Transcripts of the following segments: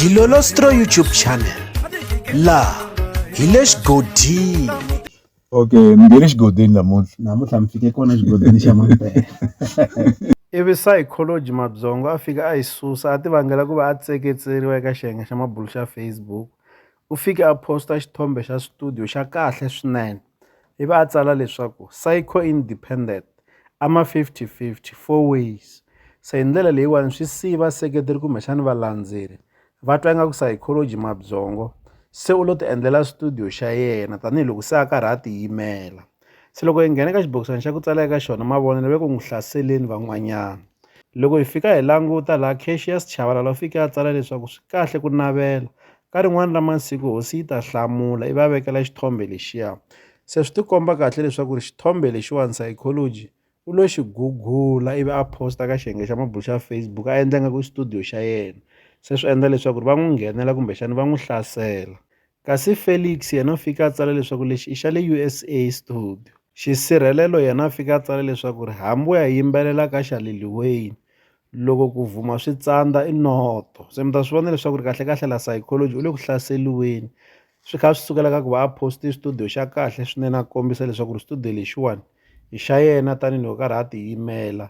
Dilolostro YouTube channel laha hi le xigodini okay mi nge le xigodini namuntlha namuntlha mi fike kona xigodini xa mampela ivi psychology mabyongo a fika a yi susa a ti vangela ku va a tseketseriwa eka xiyenge xa mabulu xa facebook u fike a post-a xithombe xa studio xa kahle swinene i va a tsala leswaku Saico independent a ma fifty fifty four ways se hi ndlela leyiwani swi siyi vaseketeri kumbexani valandzeri va twa ingaku psychology mabyongo se u lo ti endlela studio xa yena tanihiloko se a karhi a tiyimela. Se loko hi nghena eka xibokisana xa ku tsala eka xona mavonelo ve ku n'wi hlaseleni van'wanyana loko hi fika hi languta laha Cassius Chabalala u fike a tsala leswaku swi kahle ku navela ka rin'wana ra masiku hosi yi ta hlamula i va vekela xithombe lexiya se swi tikomba kahle leswaku ri xithombe lexiwani psychology U lo xi gugula ivi a post-a ka xiyenge xa mabulo xa Facebook a endla ingaku i studio xa yena. Se swi endla leswaku va n'wi nghenela kumbexana va n'wi hlasela. Kasi Felix yena u fike a tsala leswaku lexi i xa le USA studio. Xisirhelelo yena a fike a tsala leswaku hambi wo ya yimbelela ka xa Lil Wayne, loko ku vhuma swi tsandza i noto. Se mi ta swi vona leswaku kahlekahle la psychology u le ku hlaseriweni. swi kha swi sukela ka ku va a poste studio xa kahle swinene a kombisa leswaku ri studio lexiwani i xa yena tanihiloko karhi a tiyimela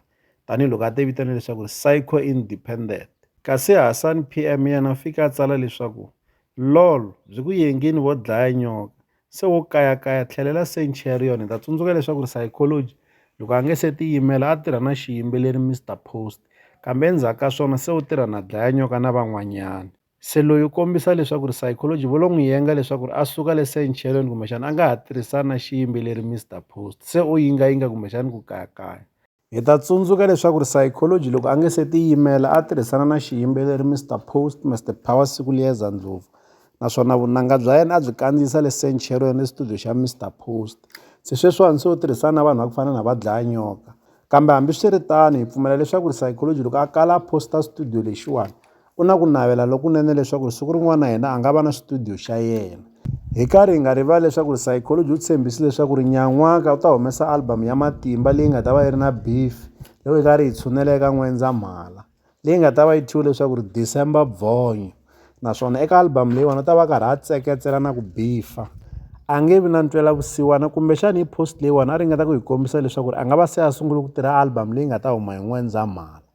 tanihiloko a ti vitana leswaku ri psycho independent kasi hasani p m yena u fike a tsala leswaku lol byi ku yengini vo dlaya nyoka se wo kayakaya tlhelela centurion hi ta tsundzuka leswaku ri psychology loko a nge se tiyimela a tirha na xiyimbeleri mr post kambe endzhaku ka swona se u tirha na dlaya nyoka na van'wanyana se loyi u kombisa leswaku ri psychology vo lo n'wi yenga leswaku ri a suka le sencheleni kumbexana a nga ha tirhisani na xiyimbeleri Mister Post se u yingayinga kumbexani ku kayakaya hi ta tsundzuka leswaku ri psychology loko a nge se tiyimela a tirhisana na xiyimbeleri Mister Post Mister Power siku liyeza ndlopfu naswona vunanga bya yena a byi kandziyisa le sencheleni studio xa Mister Post se sweswiwani se u tirhisana na vanhu va ku fana na va dlaya nyoka kambe hambiswiritano hi pfumela leswaku ri psychology loko a kala a posta studio lexiwani Ku na ku navela lokunene leswaku siku rin'wana na yena a nga va na xitudiyo xa yena. Hi karhi hi nga rivali leswaku Saykoloji u tshembise leswaku ri nyan'waka u ta humesa album ya matimba leyi nga ta va yi ri na beef loko hi karhi hi tshunela eka N'wendzamhala, leyi nga ta va yi thyiwe leswaku ri December Bvonyo, naswona eka album leyiwani u ta va a karhi a tseketsela na ku bifa. A nge vi na ntwelavusiwana kumbexana hi post leyiwani a ringeta ku hi kombisa leswaku ri a nga va se a sungule ku tirha album leyi nga ta huma hi N'wendzamhala.